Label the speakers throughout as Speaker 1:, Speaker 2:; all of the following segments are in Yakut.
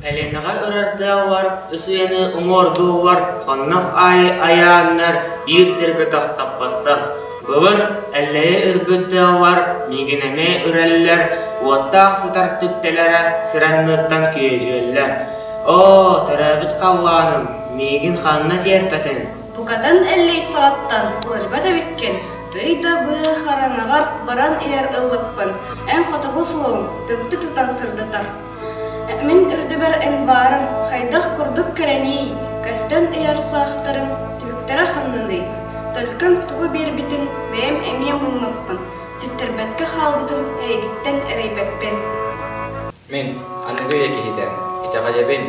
Speaker 1: Эленэҕэ ырардаабылар усуйаны уҥуордууллар, хоннох аайы айааннар биир сиргэ тохтоппоттор. Былыр Эллэйи өлбүттэригэр миигин эмиэ үрэллэр, уоттаах сытар түптэлэрэ сир анныттан күөдьүөллэр. Оо, төрөөбүт халлааным, миигин ханна тиэрпэтин? Букатын Эллэй саҕаттан уларыйбат эбиккин. Ый да быа хараҥаҕар баран иһэр ыллыкпын, эн хотугу суоҥ, тымты тутан сырдатар. Мин үрдүбэр эн баарыҥ хайдах курдук кэрэниий, көстөн ыйар саахтарыҥ, түһүктэрэ ханнаный? Төлкөм тугу биэрбитин бэйэм эмиэ муннаппын, ситтэрбэккэ хаалбытым эйигиттэн эрэйбэппин» Мин, аныгы ийэ киһитэ, итэҕэйэбин,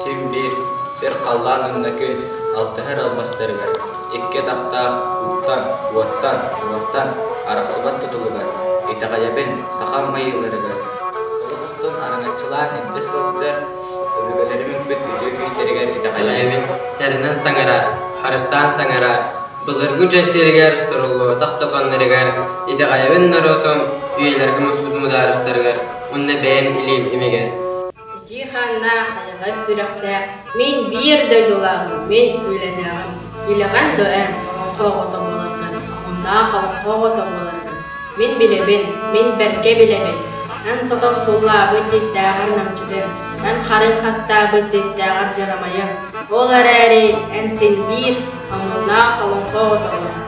Speaker 1: син биир, сир-халлаан оннукун алтыһар албастарыгар, икки атахтаах ууттан, уоттан, уоттан арахсыбат тутулугар, итэҕэйэбин сахам майыыларыгар Уруккутун араҥаччылаан илдьэ сылдьан, өбүгэлэриммит бүт үтүө күүстэригэр итэҕэллээбит, сэрэнэн саҥарар, харыстаан саҥарар, былыргы дьэ сиэригэр соруллубатах сокуоннарыгар итэҕэйэбин норуотум үйэлэргэ муспут мудаарыстарыгар уонна бэйэм илиим имигэр. Итии хааннаах, айаҕас сүрэхтээх, мин биир дойдулааҕым, мин үлэлээҕим, илэҕэн да эн олоҥхо оҕото буоларгын, омуннаах олоҥхо оҕото буоларгын мин билэбин, мин бэркэ билэбин. Эн сотон суллаабыт дьиктээҕэр намчытын, эн харыҥ хастаабыт дьиктээҕэр дьарамайын, ол эрээри эн син биир омуннаах олоҥхо оҕото буолар.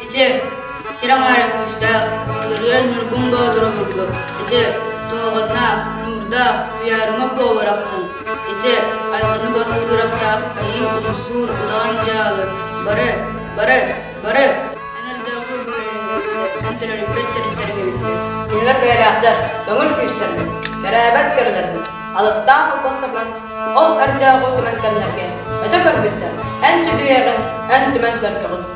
Speaker 1: Эчи, сирэҥ эрэ күүстээх, ыарыан Ньургун Боотур обургу. Эчи, Тооҕонноох, Нуурдаах, Туйаарыма Куо арахсан. Эчи, Айылҕаны босхо кыыраптаах Айыы Умсуур удаҕан дьаалы. Бары, бары, бары! Эн өрдөөҕү бөрөрүбүттэр, эн төрөрүппэт төрүттэригибиттэр. Кинилэр бэйэлээхтэр, көҥүл күүстэрин, кэрээбэт кэрэлэрбин, алыптаах албастарынан, ол өрдөөҕү көрөн кэмнэргэ өтө көрбүттэр, эн сүдүйэҕин, эн түмэн төлкөҕүн.